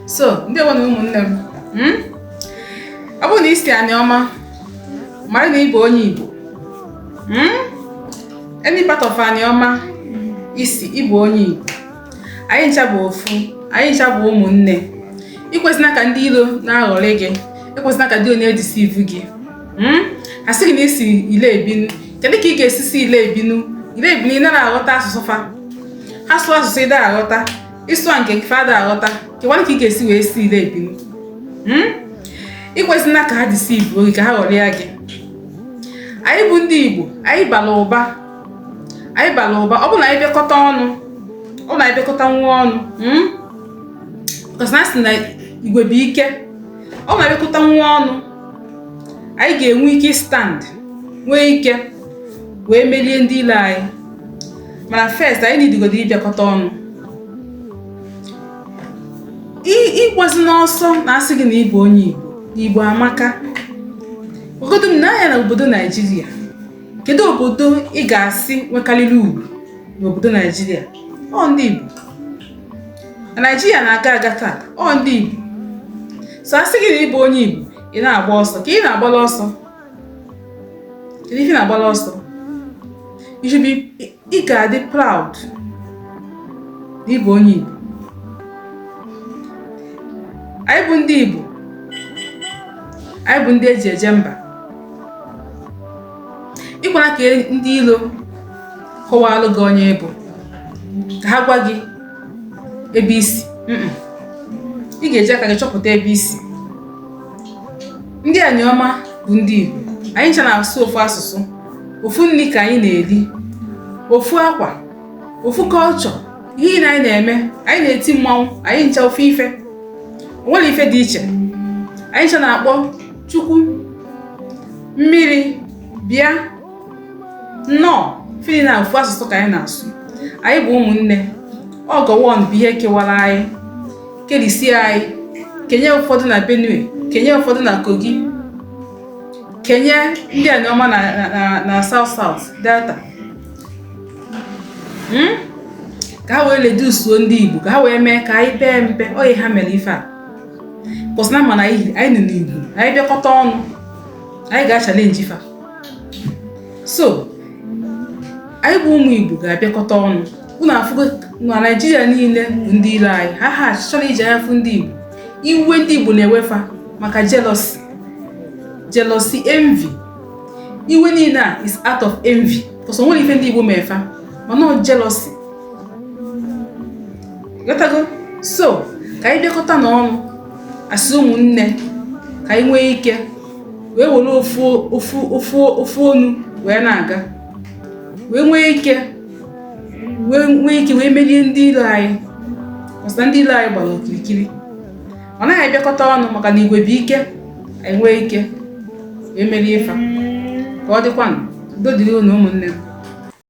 so ndị nwe na ụmụnne m hmm? ọ bụrụ na i si Anioma mara na ị bụ onye Igbo hmm? any part of Anioma i si ị bụ onye Igbo anyị ncha bụ ofu anyị ncha bụ ụmụnne ekwezina ka ndị ilo na-aghọrị gị ekwezina ka ndị ilo deceive gị hmm? a sị gị na i si Ile Ibinu kedu ka ị ga-esi si Ile Ibinu Ile Ibinu ị nara aghọta asụsụ fa ha sụọ asụsụ ị da aghọta ị sụa nke nke fa da aghọta kekwanụ ka ị ga-esi wee si Ile Ibinu hmm? ekwezina ka ha deceive gị ka ha ghọrịa gị anyị bụ ndị Igbo anyị bara ụba anyị bara ụba ọ bụ na anyị bịakọta ọnụ ọ bụ na anyị bịakọta onwe ọnụ hmm? because na a sị na igwe bụ ike ọ bụ na anyị bịakọta onwe ọnụ anyị ga-enwe ike stand nwee ike wee merie ndị ilo anyị mana first anyị nidigodo ịbịakọta ọnụ ịgbazina ọsọ na a sị gị na ị bụ onye Igbo Igbo amaka negodunụ anya na obodo Naijiria kedu obodo ị ga-asị nwekarịrị ugwu n'obodo Naijiria ọ ndị Igbo Naijiria na-aga aga taa ọ ndị Igbo so a sị gị na ị bụ onye Igbo ị na-agba ọsọ ka ị na-agbala ọsọ kedu ife ị na-agbala ọsọ you should be ị ga-adị proud na ị bụ onye Igbo anyị bụ ndị Igbo anyị bụ ndị e ji eje mba ekwena ka ndị ilo kọwalụ gị onye ị bụ ka ha gwa gị ebe i si ị ga-eji aka gị chọpụta ebe i si ndị Anioma bụ ndị Igbo anyị ncha na-asụ ofu asụsụ ofu nni ka anyị na-eli ofu akwa ofu culture ihe nine anyị na-eme anyị na-eti mmanwụ anyị ncha ofu ife o nwerọ ife dị iche anyị ncha na-akpọ chukwu mmiri bịa nnọọ ife nine ofu asụsụ ka anyị na-asụ anyị bụ ụmụnne ọ Gowon bụ ihe kewara anyị kerisie anyị kenye ụfọdụ na benue kenye ụfọdụ na kogi kenye ndị Anioma na na south south delta hmm? ka ha wee reduce-uo ndị igbo ka ha wee mee ka anyị pee mpe ọ ihe ha mere ife a because na a ma na anyị ndị Igbo anyị bịakọta ọnụ anyị ga-achallenge fa so anyị bụ ụmụ Igbo ga-abịakọta ọnụ unu afụgo na naijiria niile bụ ndị ilo anyị ha ha achọrọ iji anya fụ ndị igbo iwe ndị igbo na-ewe fa maka jealousy jealousy envy iwe niile a is out of envy because o nwere ife ndị igbo me fa mana ọ jealousy ghọtago so ka anyị bịakọta n'ọnụ as ụmụnne ka anyị nwee ike wee were ofu ofu ofu ofu ọnụ wee na-aga wee nwee ike wee nwee ike wee merie ndị ilo anyị ọ sị na ndị ilo anyị gbara okirikiri ọ na anyị bịakọta ọnụ maka na igwe bụ ike anyị nwee ike wee merie fa ka ọ dịkwanụ udo dịrị unu ụmụnne m